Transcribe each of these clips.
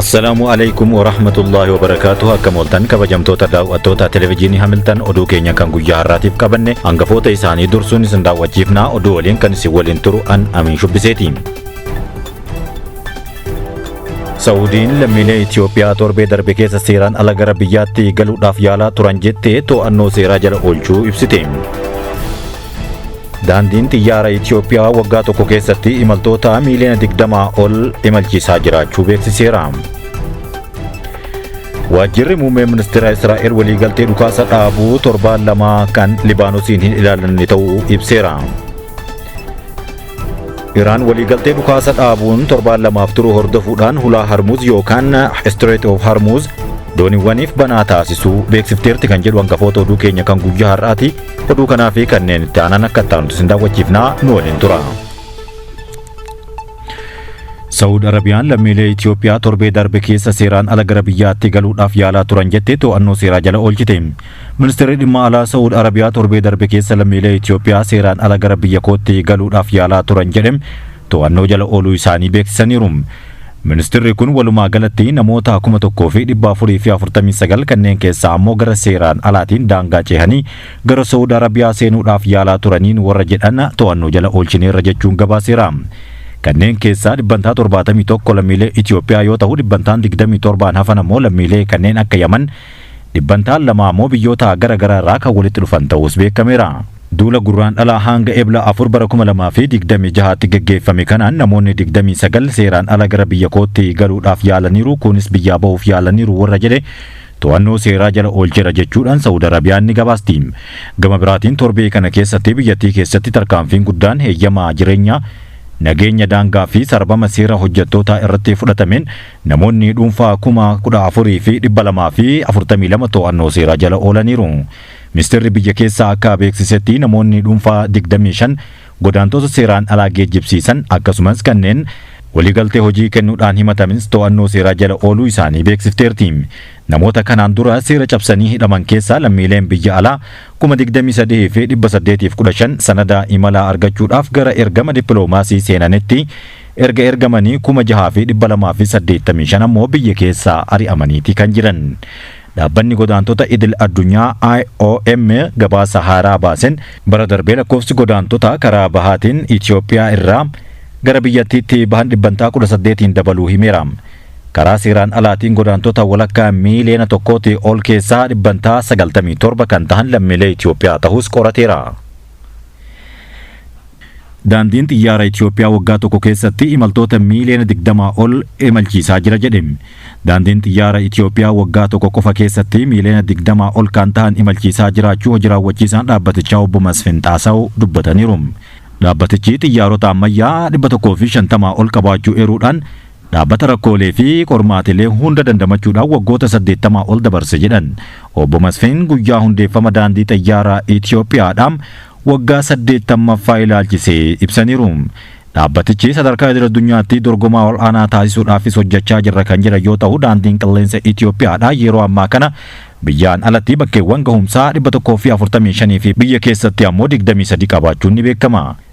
Assalaamu alaikum wa rahmatullahi wa barakaatuh akkam ooltan kabajamtoota daawwattoota televezyiinii Hamiltan oduu keenya kan guyyaa har'aatiif qabanne hangafoota isaanii dursuun isin daawwachiifnaa oduu waliin kan isin waliin turu an Amiin Shubbiseeti. Saawudiin lammiilee Itoophiyaa torbee darbe keessa seeraan ala gara biyyaatti galuudhaaf yaalaa turan jettee to'annoo seeraa jala oolchuu ibsite. Daandiin xiyyaara Itiyoophiyaa waggaa tokko keessatti imaltoota miiliyoona 20 ol imalchiisaa jiraachuu beeksiseera. Waajjirri muummee ministeera Israa'el waliigaltee dhukaasa dhaabuu torbaan lamaa kan Libaanosiin hin ilaalanne ta'uu ibseera. Iraan waliigaltee dhukaasa dhaabuun torbaan lamaaf turu hordofuudhaan hulaa Harmuuz yookaan Strait of Harmuuz dooniiwwaniif banaa taasisuu beeksifteerti kan jedhu hangafoota oduu keenya kan guyyaa har'aati. Oduu kanaa fi kanneen itti aanan akka itti aanutti isin daawwachiifnaa nu waliin tura. Saawud Arabiyaan lammiilee Itoophiyaa torbee darbe keessa seeraan ala gara biyyaatti galuudhaaf yaalaa turan jettee to'annoo seeraa jala oolchite. Ministeerri Dhimma Alaa Sa'ud Arabiyaa torbee darbe keessa lammiilee Itiyoophiyaa seeraan ala gara biyya kootti galuudhaaf yaalaa turan jedhe to'annoo jala ooluu isaanii beeksisaniiru. Ministirri kun walumaa galatti namoota 1449 kanneen keessaa ammoo gara seeraan alaatiin daangaa ceehanii gara Sa'ud Arabiyaa seenuudhaaf yaalaa turaniin warra jedhan to'annoo jala oolchineerra jechuun gabaaseera. Kanneen keessaa dhibbantaa 71 lammiilee Itiyoophiyaa yoo ta'u dhibbantaan 27 hafan ammoo lammiilee kanneen akka Yaman dhibbantaan lama ammoo biyyoota gara garaa irraa kan walitti dhufan ta'uus beekameera. Duula Gurraandhala hanga Ebla 4 bara 2026tti gaggeeffame kanaan namoonni 29 seeraan ala gara biyya kootti galuudhaaf yaalaniiru kunis biyyaa bahuuf yaalaniiru warra jedhe to'annoo seeraa jala oolcheera jechuudhaan Sa'ud Arabiyaan ni gabaasti. Gama biraatiin torbee kana keessatti biyyattii keessatti tarkaanfiin guddaan heeyyama jireenyaa, nageenya daangaa fi sarbama seera hojjettootaa irratti fudhatameen Namoonni dhuunfaa 14,242 to'annoo seeraa jala oolaniiru. Ministeerri biyya keessaa akka beeksisetti namoonni dhuunfaa 25 godaantoota seeraan alaa geejjibsiisan akkasumas kanneen waliigaltee hojii kennuudhaan himatamins to'annoo seeraa jala ooluu isaanii beeksifteerti. Namoota kanaan dura seera cabsanii hidhaman keessaa lammiileen biyya alaa 23,815 sanada imalaa argachuudhaaf gara ergama dippiloomaasii seenanitti Erga ergamanii 6285 ammoo biyya keessaa ari'amaniiti kan jiran. Dhaabbanni Godaantota Idil Addunyaa, IOM, gabaasa haaraa baasen, bara darbe lakkoofsi godaantotaa karaa bahaatiin Itiyoophiyaa irraa gara biyyattiitti bahan dhibbantaa 18n dabaluu himeera. Karaa seeraan alaatiin godaantota walakkaa miiliyoona tokkootii ol keessaa dhibbantaa 97 kan tahan lammiilee Itiyoophiyaa tahuus qorateera. Daandiin Xiyyaara Itiyoophiyaa waggaa tokko keessatti imaltoota miiliyoona 20 ol imalchiisaa jira jedhe. Daandiin Xiyyaara Itiyoophiyaa waggaa tokko qofa keessatti miiliyoona 20 ol kan ta'an imalchiisaa jiraachuu hojii raawwachiisaan dhaabbatichaa obbo Masfin Xaasaw dubbataniiru. Dhaabbatichi xiyyaarota ammayyaa 150 ol qabaachuu eeruudhaan Dhaabbata rakkoolee fi qormaatilee hunda dandamachuudhaan waggoota 80 ol dabarse jedhan Obbo Masfin guyyaa hundeeffama Daandii Xayyaaraa Itiyoophiyaadha waggaa 80ffaa ilaalchisee ibsaniiru. Dhaabbatichi sadarkaa idil-addunyaatti dorgomaa ol'aanaa taasisuudhaafis hojjechaa jirra kan jedhan yoo ta'u, Daandiin Qilleensa Itiyoophiyaadha yeroo ammaa kana biyyaan alatti bakkeewwan gahumsaa 145 fi biyya keessatti ammoo 23 qabaachuun ni beekama.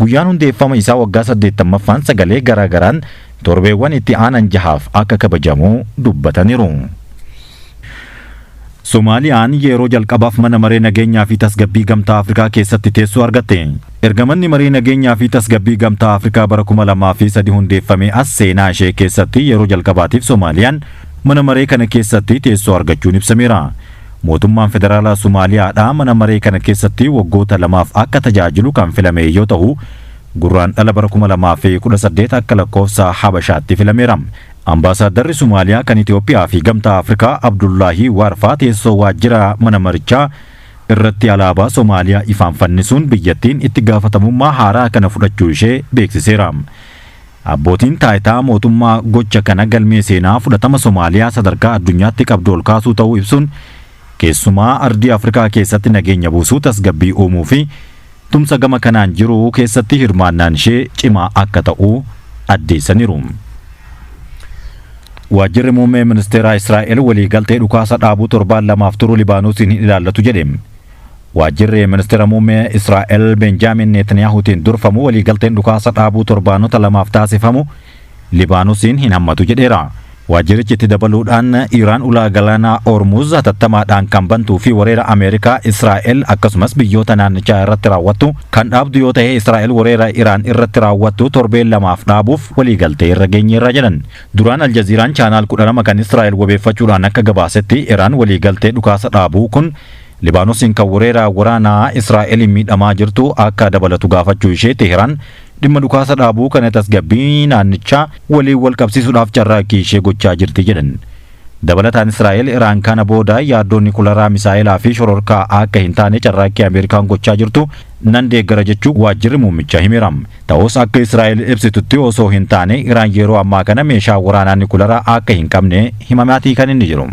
Guyyaan hundeeffama isaa waggaa 80ffaan sagalee garaa garaan torbeewwan itti aanan jahaaf akka kabajamu dubbataniru. Somaaliyaan yeroo jalqabaaf Mana Maree Nageenyaa fi Tasgabbii Gamtaa Afrikaa keessatti teessoo argatte. Erga Manni Maree Nageenyaa fi Tasgabbii Gamtaa Afrikaa bara 2003 hundeeffamee as seenaa ishee keessatti yeroo jalqabaatiif Somaaliyaan mana maree kana keessatti teessoo argachuun ibsameera. Mootummaan Federaalaa Somaaliyaadhaa mana maree kana keessatti waggoota lamaaf akka tajaajilu kan filame yoo tahu, Gurraandhala bara 2018 akka lakkoofsa Habashaatti filameera. Ambaasaaddarri Somaaliyaa kan Itoophiyaa fi Gamtaa Afrikaa Abdullaahii Waarfaa teessoo waajjira mana marichaa irratti alaabaa Somaaliyaa ifaan fannisuun biyyattiin itti gaafatamummaa haaraa kana fudhachuu ishee beeksiseera. Abbootiin taayitaa mootummaa gocha kana galmee seenaa fudhatama Somaaliyaa sadarkaa addunyaatti qabdu ol kaasuu ta'uu ibsuun, keessumaa ardii Afrikaa keessatti nageenya buusuu, tasgabbii uumuu fi tumsa gama kanaan jiru keessatti hirmaannaan ishee cimaa akka ta'u addeessaniiru. Waajjirri Muummee Ministeeraa Israa'el waliigaltee dhukaasa dhaabuu torbaan lamaaf turu Libaanosiin hin ilaallatu jedhe. Waajjirri Ministira Muummee Israa'el Beenjaamiin Neetanyaahuutiin durfamu waliigalteen dhukaasa dhaabuu torbaanota lamaaf taasifamu Libaanusiin hin hammatu jedheera. Waajjirichi itti dabaluudhaan Iraan ulaa galaanaa Hormuuz hatattamaadhaan kan bantuu fi wareera Ameerikaa, Israa'el akkasumas biyyoota naannichaa irratti raawwattu kan dhaabdu yoo tahe Israa'el wareera Iraan irratti raawwattu torbee lamaaf dhaabuuf waliigaltee irra geenyeerra jedhan. Duraan Aljaziiraan Chaanaal 12 kan Israa'el wabeeffachuudhaan akka gabaasetti Iraan waliigaltee dhukaasa dhaabuu kun Libaanosiin kan wereera waraanaa Israa'eliin miidhamaa jirtu akka dabalatu gaafachuu ishee Teehraan dhimma dhukaasa dhaabuu kana tasgabbii naannichaa waliin wal qabsiisuudhaaf carraaqqii ishee gochaa jirti jedhan. Dabalataan Israa'el Iraan kana booda yaaddoo nikularaa, misaa'elaa fi shororkaa akka hin taane carraaqqii Ameerikaan gochaa jirtu nan deeggara jechuu waajjirri muummichaa himeera. Ta'us akka Israa'el ibsitutti osoo hin taane Iraan yeroo ammaa kana meeshaa waraanaa nikularaa akka hin qabne himamaatii kan inni jiru.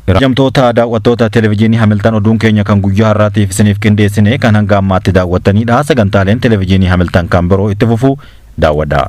Kabajamtoota daawwattoota Televijiinii Hamiltan oduun keenya kan guyyaa har'aatiif isiniif qindeessine kan hanga ammaatti daawwattaniidha. Sagantaaleen Televijiinii Hamiltan kan biroo itti fufu daawwadha.